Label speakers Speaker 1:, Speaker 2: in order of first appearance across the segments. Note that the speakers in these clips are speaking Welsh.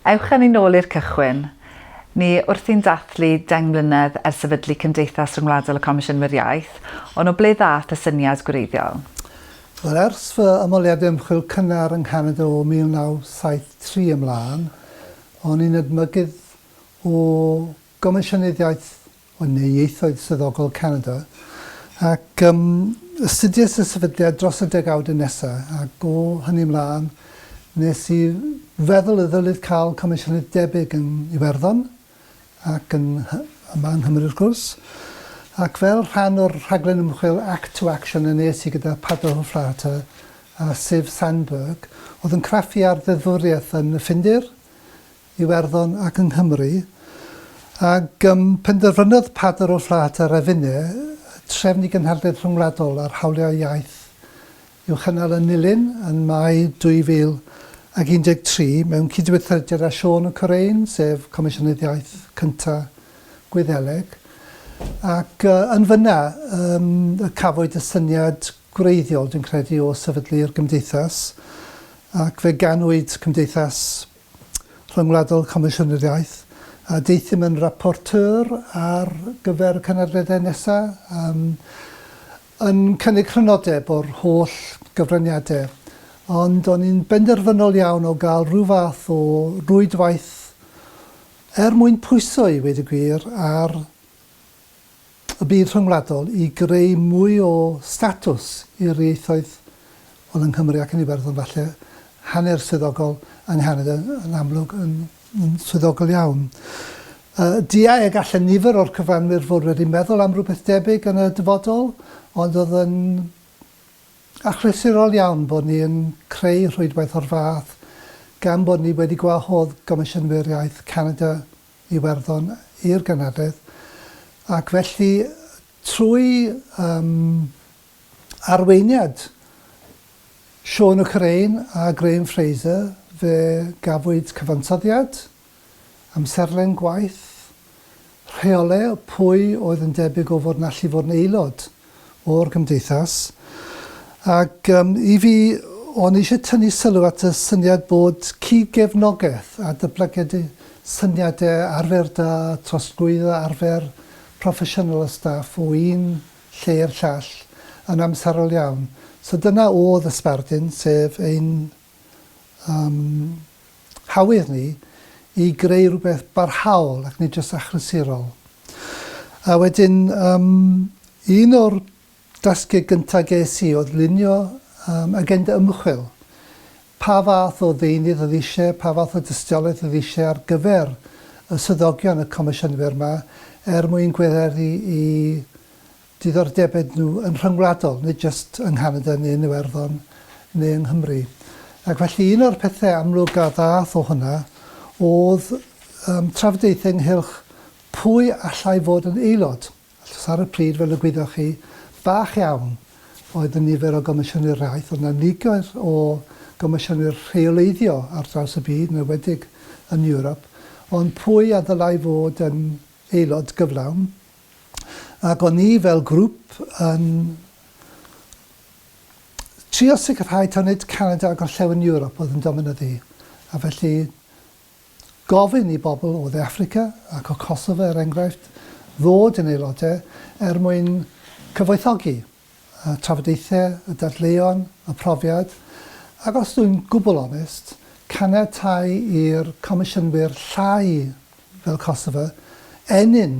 Speaker 1: Ewch â ni nôl i'r cychwyn. Ni wrthi'n dathlu deng mlynedd ers sefydlu Cymdeithas Ryngwladol y Comisiynwyr Iaith, ond o ble ddaeth y syniad gwreiddiol? Wel, ers
Speaker 2: fy ymholiad ymchwil cynnar yng Nghanada o 1973 ymlaen, o'n i'n edmygydd o Gomisiynydd Iaith ond neu Ieithoedd Swyddogol Canada, ac um, astudiais y sefydliad dros y degawd nesa, ac o hynny ymlaen, nes i feddwl y ddylid cael comisiynydd debyg yn Iwerddon, ac yn yma yng Nghymru wrth gwrs, ac fel rhan o'r rhaglen ymchwil Act to Action yn nes i gyda Pablo Hofrata a Siv Sandberg, oedd yn craffu ar ddeddfwriaeth yn y Ffindir, Iwerddon ac yng Nghymru, ac ym penderfynodd Padr o Flat a Revine trefn i gynhadledd rhyngwladol ar hawliau iaith i'w chynnal yn Nulyn yn Mai 2013 mewn cydweithrediad â Siôn y Corein, sef Comisiynydd Iaith cynta Gwyddeleg, ac yn fynna ym, y cafwyd y syniad gwreiddiol, dwi'n credu, o sefydlu'r Gymdeithas, ac fe ganwyd Cymdeithas Rhyngwladol Comisiynydd Iaith, a deuthum yn rapporteur ar gyfer y cynadleddau nesaf, yym, yn cynnig crynodeb o'r holl gyfraniadau, ond o'n i'n benderfynol iawn o gael rhyw fath o rwydwaith er mwyn pwyso, i weud y gwir, ar y byd rhyngwladol i greu mwy o statws i'r ieithoedd hwn yng Nghymru ac yn Iwerddon falle, hanner swyddogol yng Nghanada yn amlwg yn swyddogol iawn. Diau y gallen nifer o'r cyfranwyr fod wedi meddwl am rywbeth debyg yn y dyfodol, ond oedd yn achlysurol iawn bod ni yn creu rhwydwaith o'r fath gan bod ni wedi gwahodd gomisiynwyr iaith Canada Iwerddon i'r genedlaeth ac felly trwy yym arweiniad Siôn y Cyrein a Graham Fraser fe gafwyd cyfansoddiad, amserlen gwaith, rheole pwy oedd yn debyg o fod yn allu fod yn aelod o'r gymdeithas ac yym i fi o'n i eisiau tynnu sylw at y syniad bod cyd-gefnogaeth a dyblygiad syniadau arfer da, trosglwyddo arfer proffesiynol y staff o un lle i'r llall yn amserol iawn. So dyna oedd y sbardun, sef ein â'n hawydd ni i greu rhywbeth barhaol ac nid jyst achlysurol. A wedyn, um, un o'r dasgau gyntaf ges i oedd lunio um, agenda ymchwil. Pa fath o ddeunydd oedd eisiau, pa fath o dystiolaeth oedd eisiau ar gyfer y swyddogion y comisiynwyr yma er mwyn gweithredu i diddordebau nhw yn rhyngwladol, nid jyst yng Nghanada neu yn Iwerddon neu yng Nghymru. Ac felly un o'r pethau amlwg a ddaeth o hwnna oedd um, trafodaethau ynghylch pwy allai fod yn aelod. Achos ar y pryd, fel y gwyddoch chi, bach iawn oedd y nifer o gomisiynwyr rhaith, oedd yna niger o gomisiynwyr rheoleiddio ar draws y byd, yn ywedig yn Ewrop, ond pwy a ddylai fod yn aelod gyflawn, ac o'n ni fel grŵp yn trio sicrhau taw nid Canada a Gorllewin Ewrop oedd yn dominyddu, a felly gofyn i bobl o Dde Affrica ac o Kosovo, er enghraifft, ddod yn aelodau er mwyn cyfoethogi. y trafodaethau, y dadleuon, y profiad, ac os dwi'n gwbl onest, caniatáu i'r comisiynwyr llai fel Kosovo ennyn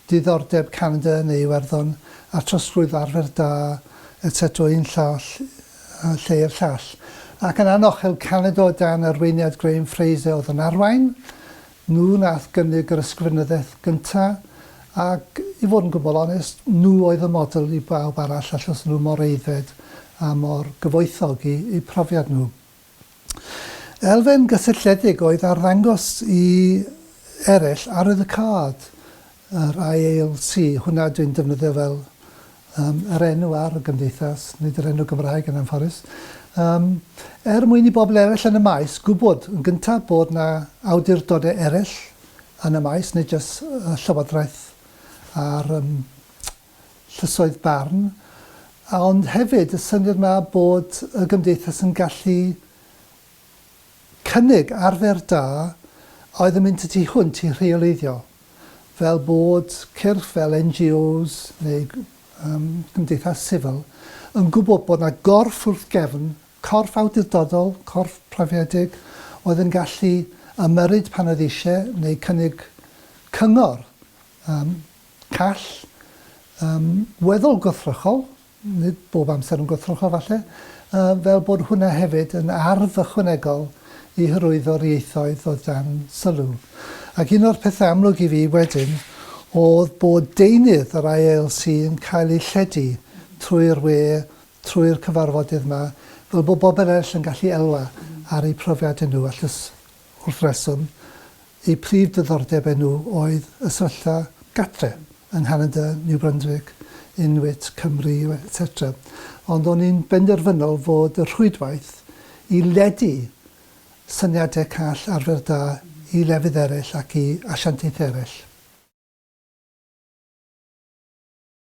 Speaker 2: diddordeb Canada yn ei Iwerddon a trosglwyddo arfer da, etc, o un llall lle i'r llall. Ac yn anochel, Canada o dan arweiniad Graham Fraser oedd yn arwain, Nhw nath gynnig yr ysgrifenyddiaeth gynta, ac i fod yn gwbl onest, nhw oedd y model i bawb arall allethu nhw mor aeddfed a mor gyfoethog i eu profiad nhw. Elfen gysylltiedig oedd arddangos i ereill arwydd y card, Yr IALC, hwnna dwi'n defnyddio fel yym yr enw ar y gymdeithas, nid yr enw Gymraeg yn anffodus, yym er mwyn i bobl eraill yn y maes gwybod yn gyntaf bod 'na awdurdodau eraill yn y maes, nid jyst y Llywodraeth a'r yym llysoedd barn, ond hefyd y syniad 'ma bod y gymdeithas yn gallu Cynnig arfer da oedd yn mynd y tu hwnt i rheoleiddio, fel bod cyrff fel NGOs neu gymdeithas sifil yn gwybod bod 'na gorff wrth gefn, corff awdurdodol, corff proffiedig, oedd yn gallu ymyrryd pan oedd eisiau neu cynnig cyngor call, weddol gwrthrychol, nid bob amser yn gwrthrychol falle, fel bod hwnna hefyd yn arf ychwanegol i hyrwyddo'r ieithoedd oedd dan sylw. Ac un o'r pethau amlwg i fi wedyn oedd bod deunydd yr IALC yn cael ei lledu trwy'r we, trwy'r cyfarfodydd 'ma, fel bod bobl eraill yn gallu elwa ar eu profiadau nhw, all y Wrth reswm, eu prif diddordeb enw oedd y sefyllfa gatre yng Nghanada, New Brunswick, Inuit, Cymru, etc. Ond o'n i'n benderfynol fod y rhwydwaith i ledu syniadau call arfer da i lefydd eraill ac i asiantaethau eraill.